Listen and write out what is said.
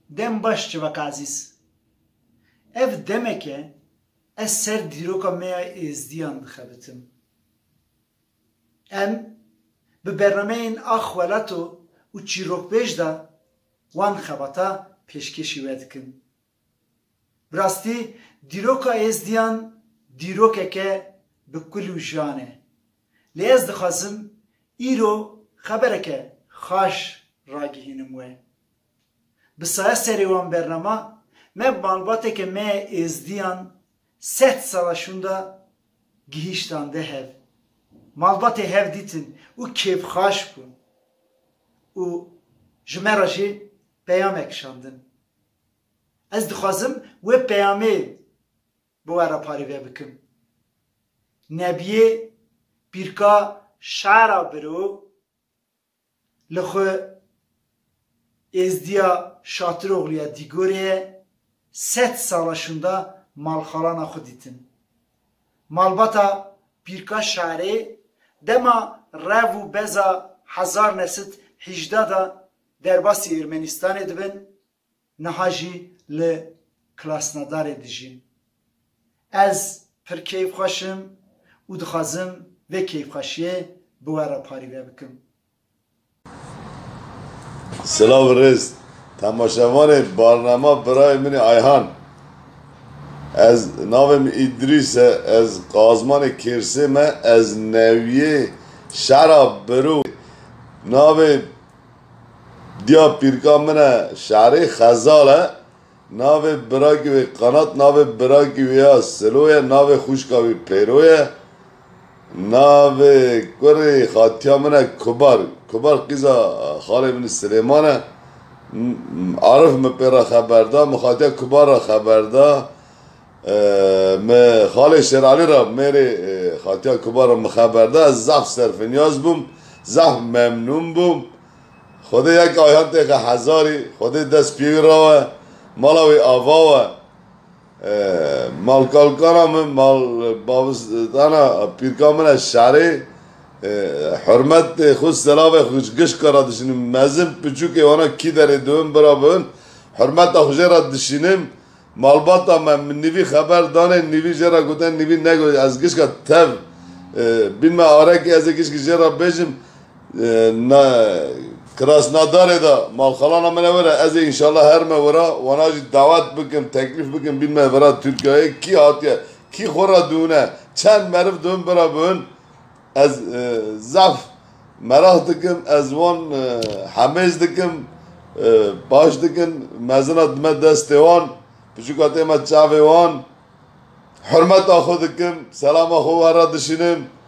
Dem baş civaka ezîz. Ev demek e ez ser dîroka me ya êzdiyan dixebitim. Em bi bernameyên Ax Welato û Çîrokbêj de wan xebata pêşkêşî we dikin. Bi rastî dîroka êzdiyan dîrokeke bi kul û jiyan e. Lê ez dixwazim îro xebereke xaş ragihînim we. Bi saya serê wan bernama me malbateke me ya Êzdiyan sed sala şûnda gihîştande hev. Malbatê hev dîtin û kêfxaş bûn û ji me re jî peyame kişandin. Ez dixwazim wê peyamê bi we re parêve bikim. Nebiyê pîrka şara biro. Li xwe Êzdiya Şatiroglu ya Dîgorê ye, sed sala şûnda malxalana xwe dîtin. Malbata Pîrka Şarê dema rev û beza hezar ne sed hîjda de derbasî Ermenistanê dibin, Niha jî li Krasnodarê dijîm. Ez pir keyfxweş im û dixwazim vê keyfxweşiyê bi we re parîve bikim. Silav û rêz temaşevanê barnama birayê min ê Ayhan. Ez navê min Îdrîs e, ez Qazmanê Kêrsê me, ez newiyê şera Birû navê Diya pîrka min e şerê Xezal e. Navê birakî wê Qanat, navê birakî wê ya Silo ye, navê xwişka wî Pêro ye. Navê kurê xatiya min e Kubar. Kubar qîza xalê min ê Silêman e. Arif min pê re xeber da, min xatiya Kubar re xeber da. Me xalê Şêralî re mêrê Xatiya Kuba re min xeber da. Ez zehf serfinyaz bûm, zehf memnûn bûm. Xwedê yek ayhan têxe hezarî, Xwedê dest pê wî re we, mala wî ava we. Malkalkana min, malbabistana pîrka min e şerê. Hurmetê xwe selavê xwe ji gişka re dişînim. Mezin piçûkê wana kî derê dibin bira bibin. Hurmeta xwe jê re dişînim. Malbata me min nivî xeber danê, nivî jê re gotin, nivî negot ez gişka tev bîn me arekî ez ê gişkî jê re bêjim Krasnadarê de malxalana min e were ez ê înşallah herime wera wana jî dawet bikim teklîf bikim bîn me vera Tirkiyayê kî hatiye kî xwe re dihûne çend meriv dihûn bira bihûn Ez zaf meraq dikim ez wan hemêz dikim baş dikin mezina dime destê wan piçûka tême çavê wan hurmeta xwe dikim selama xwe wan re dişînim.